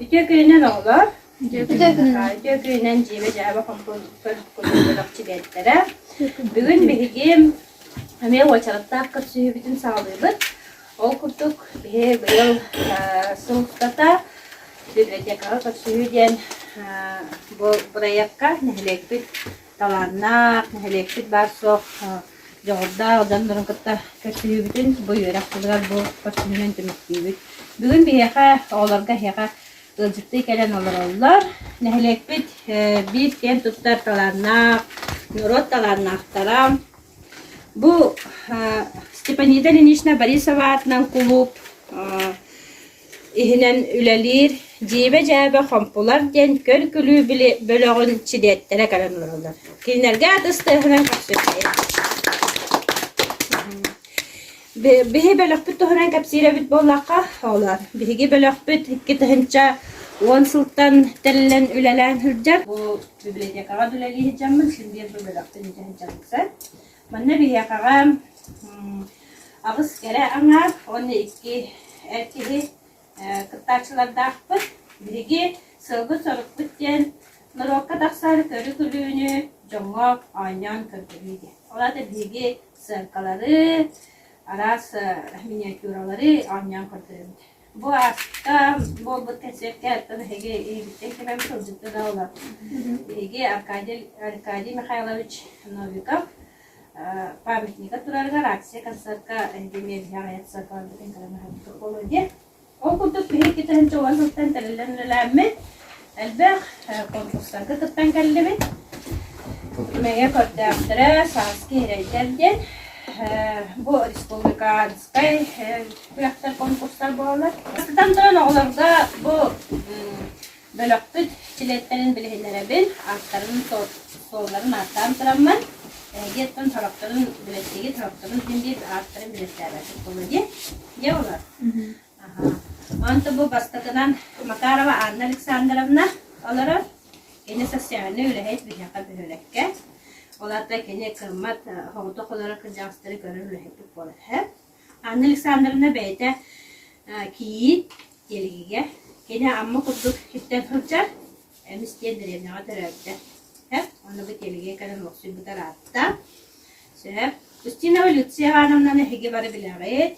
Ити күнүнэн оҕолор Ити күнүнэн дьиэбэ дьаһаба компонуттар көтөллөрөх чибиэттэрэ. Бүгүн биһиги эмиэ уочараттаах көрсүһүүбүтүн саалыыбыт. Ол курдук биһи быйыл сылтата библиотекаҕа көрсүһүү диэн бу бырайыакка нэһилиэкпит талааннаах, нэһилиэкпит баар-суох дьоҕурдаах дьоннорун кытта көрсүһүүбүтүн бу үөрэх сылыгар бу көрсүһүүнэн түмүктүүбүт. Бүгүн биһиэхэ, оҕолорго эһиэхэ ыалдьыттыы кэлэн олороллор. Нэһилиэкпит биир киэн туттар талааннаах, норуот талааннаахтара. Бу Степанида Ильинична Борисова аатынан кулууп иһинэн үлэлиир Дьиибэ-дьээбэ хомпулар диэн көр-күлүү бөлөҕүн чидиэттэрэ кэлэн олороллор. Кинилэргэ атыс-тыаһынан кэпсиирэ. Биһи бөлөхпүт туһунан кэпсиирэбит буоллахха, олор биһиги бөлөхпүт икки тыһынча уон сылтан тэрилэн үлэлээн сылдьар. Бу библиотекаҕа үлэлии сылдьаммын, син биир бу бөлөхтүн итинчэн Манна биһиэхэҕэ аҕыс кэрэ аҥаар уонна икки эр киһи кыттааччылардаахпыт. Биһиги сылгы-сорукпут диэн норуокка тахсар көрү-күлүүнү дьоҥҥо оонньоон көрдөрүү диэн. Ол аата биһиги сыаркалары, араас миниатюралары оонньоон көрдөрөбүт. Бу ааста буолбут кэнсиэркэ оттон эһиги иһиттэн кимэн сылдьыкта да олор. Эһиги Аркадий, Аркадий Михайлович Новиков памятника турарыгар акция концертка эһиги миэбиһэ аҕыйах сарбалбытын кэлэн аһарбыккыт буолуо диye. Ол курдук биһиги китэһин чоҕон сылтан тэриллэн үлэлээммит. Элбэх конкурсарга кыттан кэллибит. Мэҥэ көрдөөхтөрө сааскы иһирэйдэр диэн. Бу республиканскай күрэхтэр, конкурстар буолаллар. Бастатан туран, оҕолорго бу бөлөхпүт силиэттэрин билиһиннэрэбин, ааттарын, суолларын ааттаан тураммын, эһиги оттон сорохторун, бэлэттиги сорохторун син биир ааттарын билистээбэппит буолуо дии. Дьэ, олор. Онто бу бастакынан Макарова Анна Александровна олорор. Кини социальнай үлэһит биһиэхэ бөһүөлэккэ. Олата кини кыммат соҕотох олорор кырдьаҕастары көрөр үлэһитик буолар үһү. Анна Александровна бэйэтэ кийиит, тиэлигигэ. Кини Амма курдук сиртэн сылдьар, эмис диэн дэриэбинэҕэ төрөөбүтэ. Сөп, ону бу тиэлигэ кэлэн олохсуйбута аатта. Сөп. Кристина Люция Ивановнаны эһиги бары билэҕит.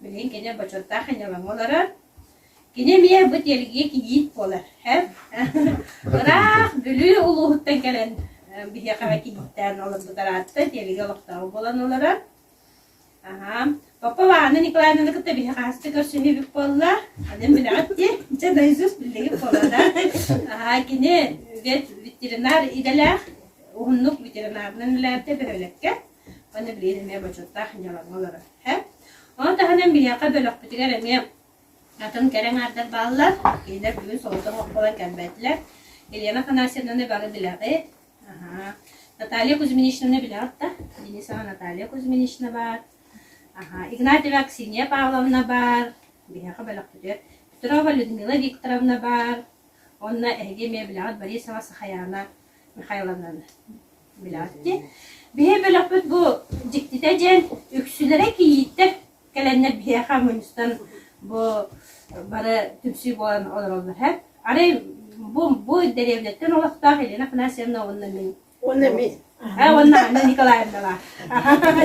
Билигин кини бочуоттаах айылаҥы олорор. Кини эмиэ бу тиэргии кийиит буолар. Һэп? Ыраах Бүлүү улууһуттан кэлэн э, биһиэхэ эмэ кийииттээн олорбут араатта тиэргии олохтооҕо буолан олорор. Аһаа. Папа Лаана Николаевнаны кытта биһи хаһаста көрсүһүүбүт буолла. Анын билэҕит дии. Дьэ, наизусть биллигит буолла да. Аһаа, кини үгэс ветеринар идэлээх, уһуннук ветеринарынан үлэлээбитэ бөһүөлэккэ. Ханна билиэм эмиэ бочуоттаах дьыалаҕа олорор. Ону таһынан биһиэхэ бөлөхпүтүгэр эмиэ атын кэрэ эҥээрдэр бааллар. Кинилэр бүгүн соҕотох оҕо буолан кэлбэттилэр. Елена Афанасьевнаны бары билэҕит. Аһаа. Наталья Кузьминичнаны билэҕит да? Денисова Наталья Кузьминична баар. Аһаа. Игнатьева Аксинья Павловна баар. Биһиэхэ бөлөхпүтүгэр Петрова Людмила Викторовна баар. Онно эһиги эмиэ билэҕит Борисова Сахаяна Михайловнан билэҕит Биһи бөлөхпүт бу дьиктитэ диэн үксүлэрэ кийииттэр кэлэннэр биһиэхэ мунньустан бу бары түмсүү буолан олороллор. Арай бу бу дэриэбинэттэн олохтоох Елена Афанасьевна уонна мин. Уонна мен. Уонна Анна Николаевналаах.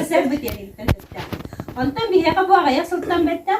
Сэр бу тиэригиттэн өттөөх. Онтон биһиэхэ бу аҕыйах сылтан бэттэх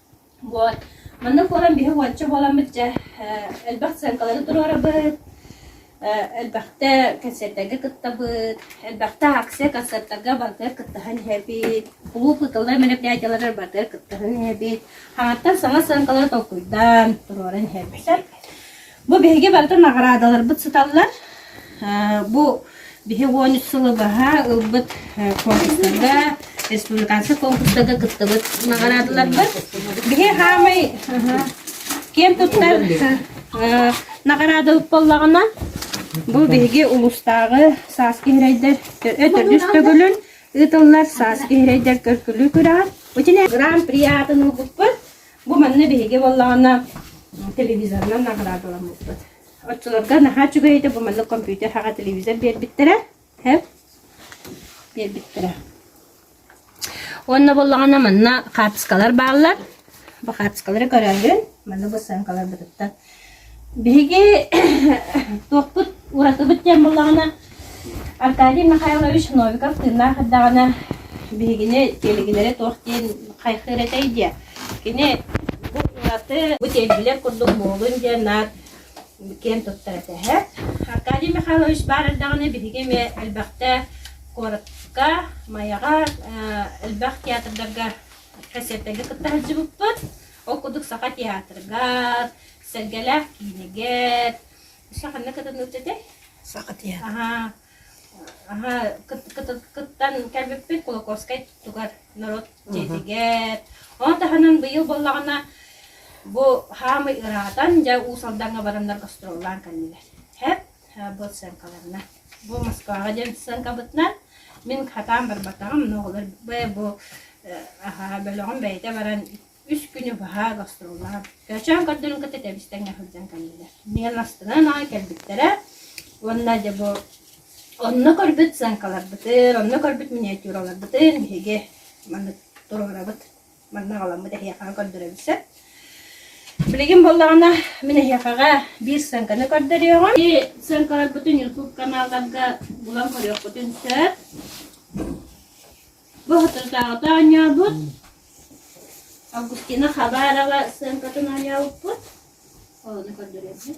Вот. Маннык буолан биһи уонча буоламмыт дьэ э, элбэх сценкалары туруорабыт, э, элбэхтэ концертарга кыттабыт, элбэхтэ акция концертарга барытыгар кыттыһан иһэбит, кулууп кытталлар мероприятиеларыгар барытыгар кыттыһан иһэбит, хаҥаттан саҥа сценкалары толкуйдаан туруоран иһэрбитэ. Бу биһиги барыта наҕараадаларбыт сыталлар. Бу биһи уон үс сылы баһа ылбыт конкурстарга, республиканскай конкурстарга кыттыбыт наҕараадаларбыт. Биһи хаамай киэн туттар наҕараада боллаҕына бу биһиги улустааҕы сааскы иһирэйдэр өтөрдүс төгүлүн ыытыллар сааскы иһирэйдэр көркүлүү күрэҕэр Гран-при аатын ылбыппыт. Бу манна биһиги буоллаҕына телевизорынан наградаламмыппыт. Оччолорго наһаа үчүгэй этэ, бу маннык компьютер аҕа телевизор биэрбиттэрэ. Биэрбиттэрэ. Уонна буоллаҕына манна хаартыскалар бааллар. Бу хаартыскалары көрөөһүн, манна бу сценкаларбытыттан Биһиги туохпут уратыбыт диэн буоллаҕына, Аркадий Михайлович Новиков тыыннаах эрдэҕинэ биһигини тиэлигилэри туох диэн хайҕыыр этэй диэ. Кини бу ураты, бу тиэлгилэр курдук муҥулун диэн наар киэн туттар этэ эһэ. Аркадий Михайлович баар эрдэҕинэ биһиги эмиэ элбэхтэ куоракка, Майаҕа, элбэх театрдарга, концертарга кытта сылдьыбыппыт. Ол курдук Саха театрыгар, Сэргэлээх киинигэр, ханна кытынныт этэй? Саха театр. Аха. Аха, кыттан кэлбиппин Кулаковскай тугар норуот дьиэтигэр. Ол таһынан быйыл буоллаҕына бу хаамый ыраатан, дьэ Уус Алдаҥҥа бараннар гастроллаан кэллилэр. Хэп, бу сценкаларынан. бу Москваҕа диэн сыарҕабытынан мин хатаан барбатаҕым, оҕолор бу аһаа бөлөҕүм бэйэтэ баран үс күнү баһа гастроллаах көөчөөн көрдөрүн кытта тэбистэнгэ сылдьан кэллилэр. Миэн астынан аа кэлбиттэрэ уонна дьэ бу онно көрбүт сценкаларбытын, онно көрбүт миниатюраларбытын биһиги маннык туруорабыт Манна аҕаламмыт эһиэхэҕэ көрдөрөн сөп. Билигин буоллаҕына, мин эһиэхэҕэ биир сценканы көрдөрүөҕүм. Сценкаларбытын YouTube каналларга булан көрүөхпүтүн сөп. Бу хотурдааҕыта оонньообут. Августина Хабарова сценкатын оонньообуппут. Олону көрдөрөбүт.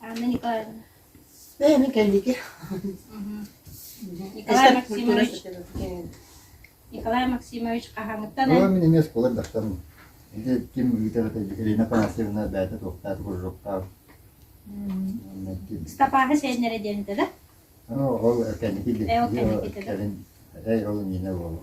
Аны Николаевна. Эми кэллики. Николай Максимович Николай Максимович хаһаҥыттан Ыла мин эмиэ оскуола дастан. Ити ким ыытарата Ирина Панасьевна бэйэтэ туохтаах куржуктаах. Стапаһы сеннере диэнтэ да? Ол кэнники кэлин ол Нина уолу.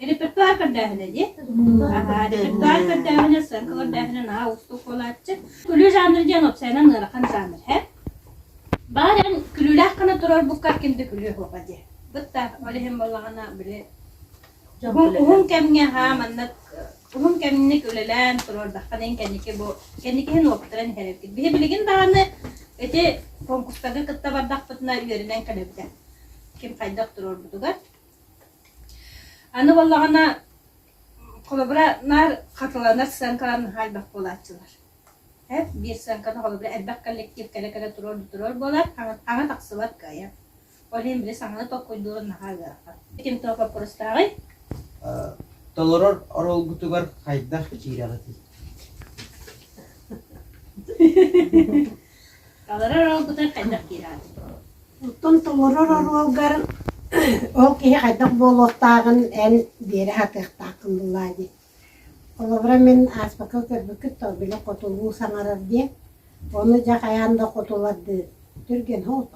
Репертуар көрдөөһүнэ диэн репертуар көрдөөһүнэ, сырка көрдөөһүнэ наһаа уустук буолааччы. Күлүү жанр диэн уопсайынан ыарахан жанр һэ. Баар эн күлүүлээх гына турарбукка кимді күлүү хуба дии. Бытта ол иһин боллаҕына били уһун кэмҥэ haa маннык уһун кэмник үлэлээн турардаххына ин кэнники бу кэнникиһин уоптаран иһэрэргит. Биһи билигин даҕаны эти конкурстарга кытта бардахпытына үөрүнэн кэлэбитэ. Ким хайдах турарбытугар Аны буоллаҕына, холобура, наар хатыланар сценкаларын хаалбах буолааччылар. Эт, биир сценканы холобура элбэх коллектив кэрэ-кэрэ туруор туруор буолар, аҥа тахсыбат кыайар. Ол иһин били саҥаны толкуйдуурун наһаа ыарахан. Ким туох боппуруостааҕый? Толорор оруолгутугар хайдах киирэҕитий? Толорор оруолгутугар хайдах киираҕыт? Оттон толорор оруолгар ол киһи хайдах буолуохтааҕын эн биэрэ сатыахтааххын буулаа дии. Холобура мин ааспакка көрбүккүт то били хотулуу саҥарар диэн. Ону дьэ хайаан да хотулардыы түргэн ол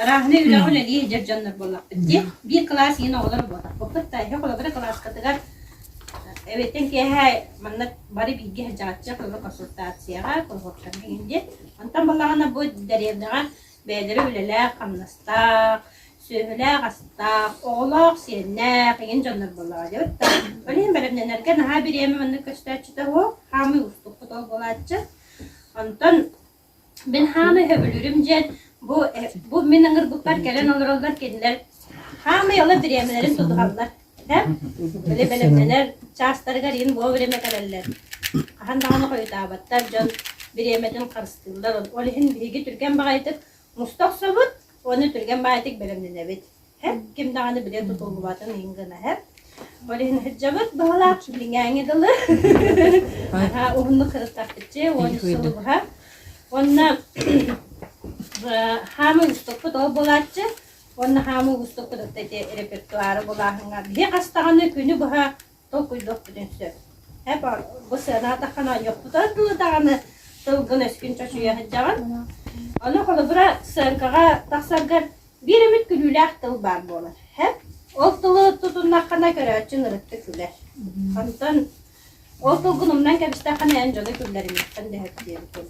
Арааһынай үлэҕэ үлэлиир эдэр дьоннор буоллахпыт дии. Биир кылаас иһин оҕолор буоллахпыппыт да, иһэ холобура кылааскатыгар эбиттэн киэһэ манна бары бииргэ садьаҕаччы коллокуотационацияҕа, коллокуоттарга иһин диэн. Онтон балаҕана бу дэриэбинэҕэ бэйэлэрэ үлэлээх хамнастаах, сүөһүлээх-астаах, оҕолоох, сиэннээх, игин дьоннор буоллаҕа диэбит да. Блин, бэлэмнэнэргэ наһаа бириэмэ маннык көстөөччүтэ уол, хаамыы уустуккут ол буолааччы. Онтон Мин хаамай сөбүлүүрүм диэн бу бу мин ыҥырбыппар кэлэн олороллор кинилэр хаамай ола бириэмэлэрин тутуһаллар. Һэм били бэлэмнэнэр чаастарыгар иһин вовремя кэлэллэр. Хаһан даҕаны хойутаабаттар дьон бириэмэтин харыстыыллар. Ол иһин биһиги түргэн баҕайытык муста охсобут уонна түргэн баҕайытык бэлэмнэнэбит. Эһэм ким даҕаны билэ тутуллубатын иһин гына эһэм. Ол иһин сылдьабыт быһылаах, билиҥээҥи дылы. Араа уһуннук кырыстахпытчы, уон үс сыл быһа. Уонна хаамы уустукпут ол булааччы. Уонна хаамы уустукпут ити репертуары булааһыҥа. Биһи хастаҕына күнү быһа толкуйдуохпутун сөп. Һэп, бу сыанаатаххына йохтутар дылы даҕаны тылгын-өскүн чочуйа сылдьаҕын. Аны холобура, сценкаҕа тахсаргар биир эмит күлүүлээх тыл баар буолар. Һэп, ол тылы тутуннаххына көрөөччү нырыттык күлэр. Онтон ол тылгын умнан кэбистэххинэ эн дьону күллэримиэххин дэһэр диэн тыл.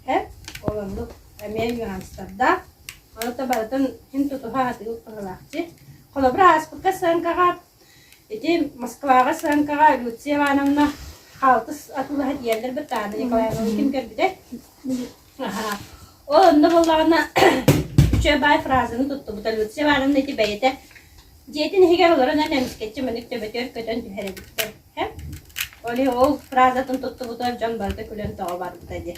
Һэп, ол оннук эмиэ нюанстардаах. Аны барытын син тутуһа атыыл быһыылаах дии. Холобура, ааспыкка сценкаҕа Ити Москваҕа Сыаҥкаҕа Люция Ивановна хаалтыс атыылаһа тиийэллэр баттаана Николаевна ким көрбүтэ. Ол онно буоллаҕына үчүгэй баай фразаны туттубута Люция Ивановна ити бэйэтэ дьиэтин иһигэр олорон эмискэччи маннык төбөтүгэр көтөн түһэр эбиттэр. Ол фразатын туттубутугар дьон барыта күлэн тоҕо барбыта дии.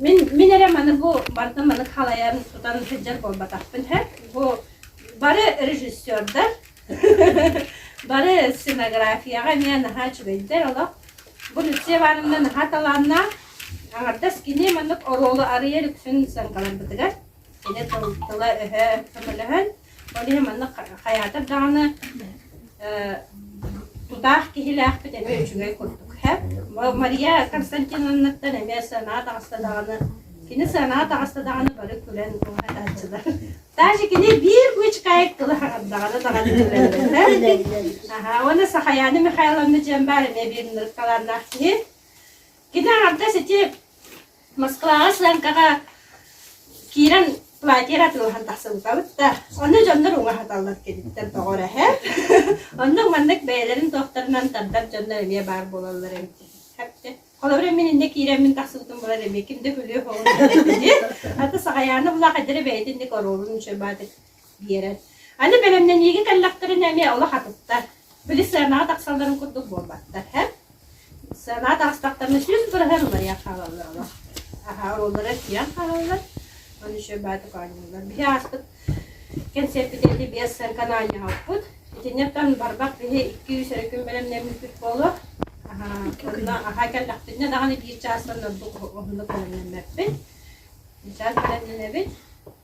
Мин мин эрэ маны бу барыта маны халайан тутан сылдьар буолбатахпын сөп. Бу бары режиссердар, бары сценографияҕа эмиэ наһаа үчүгэйдэр олох. Бу Люция Ивановна наһаа талааннаах. Аҥардас кини маннык оруолу арыйа иликсин сыаҥкаларбытыгар Ити тыла-өһө көмөлөһөн, ол иһин манна хайаатар даҕаны э, тутаах киһилээхпит эмиэ үчүгэй курдук. Мария Константиновнаттан эмиэ санаа таҕыста даҕаны, кини санаа таҕыста даҕаны бары күлэн уһатааччылар. Даже кини биир бычкаек тыла даҕаны даҕаны күлэллэр. Аhaa, уонна Сахаяна Михайловна диэн баар эмиэ биир ныркалааннаах киһи. Кини аҥардас ити Москваҕа Сланкаҕа киирэн платье атыылаһан тахсыбытабыт да, онно дьоннор уҥа хаталлар киниттэн тоҕор эһэ. Онно маннык бэйэлэрин туохтарынан тардар дьоннор эмиэ баар буолаллар эм. Хапте. Холобур, мин иннэ киирэммин тахсыбытым булар эмиэ ким да күлүө хоҕун аты саҕаяаны булаах эдэрэ бэйэтин ник оруолун үчүгэй баатык диэрэ. Аны бэлэмнэниигэ кэллэхтэринэ эмиэ олох атыттар. Били сыанаҕа тахсалларын курдук буолбаттар, һэ? Сыанаҕа таҕыстахтарына сүрүн быраһар уларыйан хаалаллар олох. Аһа, оруоллара өсүйэн хаалаллар. Аны еще баатык оонньууллар. Биһи ааспыт кэнсиэрпитэ ити биэс сыарканы оонньоһоппут. Итиннэттэн барбах биһи икки-үс эрэ күн бэлэмнэммиппит буолуо. Аһа, онно аһа кэллэхпитинэ даҕаны биир чаастан ордук оннук бэлэмнэммэппин. Чаас бэлэмнэнэбит.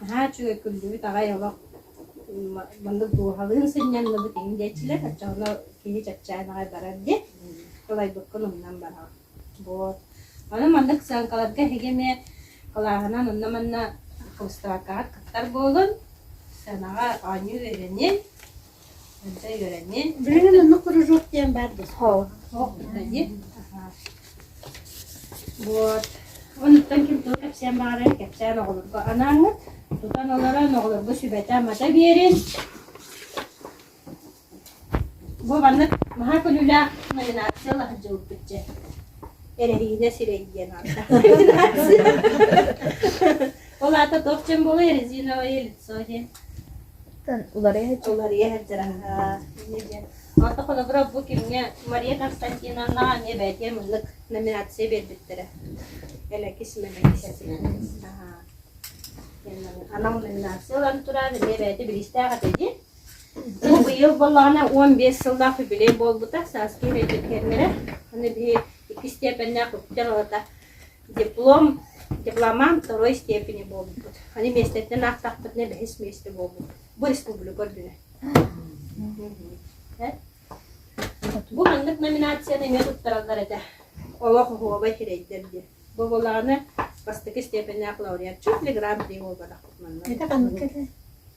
наһаа үчүгэй күллүбүт аҕай олох маннык дууһалыын сынньанныбыт иһин диэччилэр оччоҕуна киһи чэпчээн аҕай барар диэн тулайбыккын умнан бараҕын вот аны маннык сыаҥкаларга эһиги эмиэ кылааһынан онно манна хрусталькаҕыт кыттар буолун сыанаҕа оонньуур үөрэниэн Билигин оннук кружок диэн баар да суох. Суох дии. Вот. Онуттан ким тыл кэпсиэн баҕарар кэпсээн оҕолорго анааңыт. Тутан олорон оҕолорго сүбэтэ мата биэрин. Бу маннык маһа күнүлээх номинация лаһын дьылбыт дьэ. Эрэһиинэ сирэй диэн аата. Ол аата туох дьон буолуй резиновое лицо диэн? Уларыйа Уларыйа сылдьар аhaa. Эмиэ диэн. Онто холобура бу кимҥэ Мария Константиновнаҕа эмиэ бэйэтэ муннук номинация биэрбиттэрэ. Элэкис мэлэкис этинэн. Аhaa. Анал номинация ылан турар эмиэ бэйэтэ бириистээх этэ дии. Бу быйыл боллаҕына он биэс сыллаах юбилей буолбута сааскы үйэтин кэннэрэ. Аны биһи икки степеннээх үптэр олата Диплом, дипломант второй степени буолбут. Аны миэстэттэн аахтахпытына бэһис миэстэ буолбут. Бу республика үрдүнэ. Бу маннык номинацияны эмиэ туттараллар этэ. Олох оһуобай хирэйдэр диye. Бу булааны бастакы степеннээх лауреат чуть ли гран-при буолбатахпыт манна. Это ханнык это?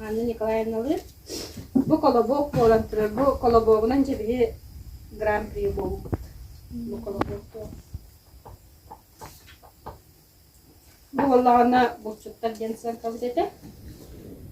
Анна Николаевналыын бу колобок буолан турар, бу колобогунан дьэбиһи гран-при буолбут. Бу колобок туох? Бу буоллаҕына булчуттар диэн сыаҥкабыт этэ.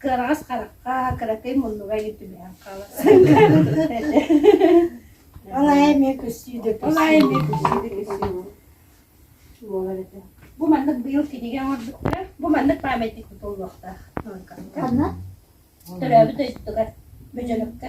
Кыараҕас харахха, кыракый муннуга илин түбэһэн хаалар. Ол айа эмиэ көстүү да Ол айа эмиэ көстүү да көстүү буолар этэ. Бу маннык быйыл кинигэ оҥорбуттар, бу маннык памятник тутуллуохтаах. Ханна? Төрөөбүт дойдутугар, Бөдьөнөккө.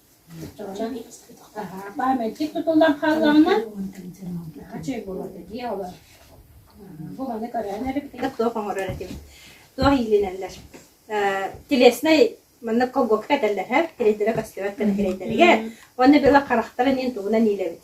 Памятник тутуллан хааллаҕына, чүй буолуо дии олор. Бу маны көрөөн эрбитин. Туох оҥорор этим. Туох иилинэллэр. Телеснай маннык колгокка этэллэр һэр, тирэйдэрэ көстүбэт кэнэ тирэйдэригэр. Уонна била харахтара ниин тугунан иилэбит.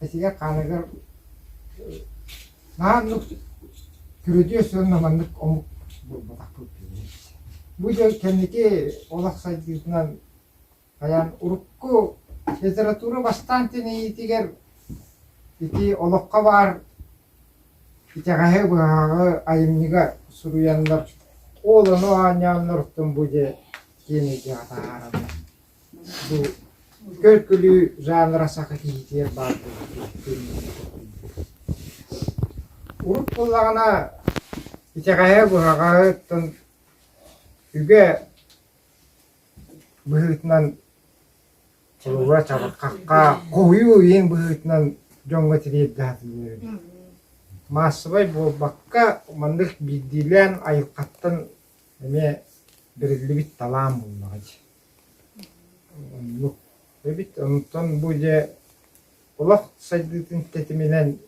Этигэр хааныгар наһаа оннук күрүдүөс уонна маннык омук буолбатахпыт киһи. Бу дьон кэнники олох сайдыытынан хайаан урукку литература бастаан тэнийиитигэр ити олоххо баар итэҕэһи быһаҕы айымньыга суруйаннар ол ону оонньоонноруттан бу дьэ киэн эйгэҕэ таһаарабыт Бу көлкүлүү жанра саха киһитигэр баар буолбутун күннэтэ көрдүм. Урут буоллаҕына итэҕэһэ-буһаҕаһыттан үгэ быһыытынан холобура чабырҕахха хоһуйуу иһин быһыытынан дьоҥҥо тириэрдэ сатыыллар эбит. Маассабай буолбакка, маннык биирдиилээн айылҕаттан эмиэ бэриллибит талаан буоллаҕа дии. Оннук. Эбит онтон бу дьэ олох сайдыытын тэтиминэн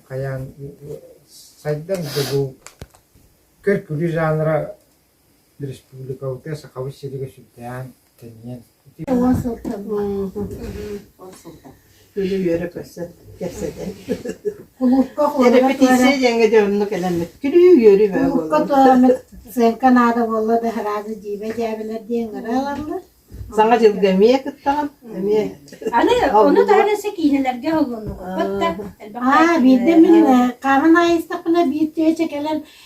хайаан сайдан да бу көр-күлүү жанра республикабытыгар Сахабыт сиригэр сүрдээх тэнийэн Үлүһүйэрэ көрсөн кэпсэтэн. Кулуупка Репетиция диэҥҥэ дьэ оннук элэммит. Күлүү үөрүү бөҕө Кулуупка туоламмыт сценка наада буолла да сразу дьиибэ дьээбэлэр диэн ыраалаллар. Саҥа дьылга эмиэ кыттаҕын. Эмиэ. Аны ону таһынан сэ киинэлэргэ холлуннугут. А биирдэ мин хааман айыстахпына биир тыача кэлэн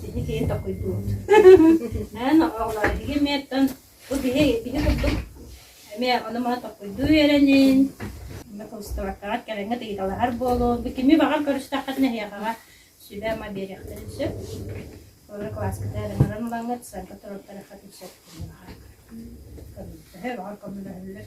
Кини киһи такыйдыбыт. Эн оҕолор эһиги эмиэттэн бу биһи итини курдук эмиэ ону-маны такыйдыы үөрэнин, микроустуобуркаҕыт кэрэҥҥит ыйыталаһар буолуон, бу кими баҕар көрүстэххитинэ эһиэхэҕэ сүбэ-ама биэриэхтэрин сөп. Олору кылааскыта эрэнэрин ылаҥҥыт, сарга туруктарыаххытын сөп кини баҕар. Көмөлөһө, баҕар көмөлөһөллөр.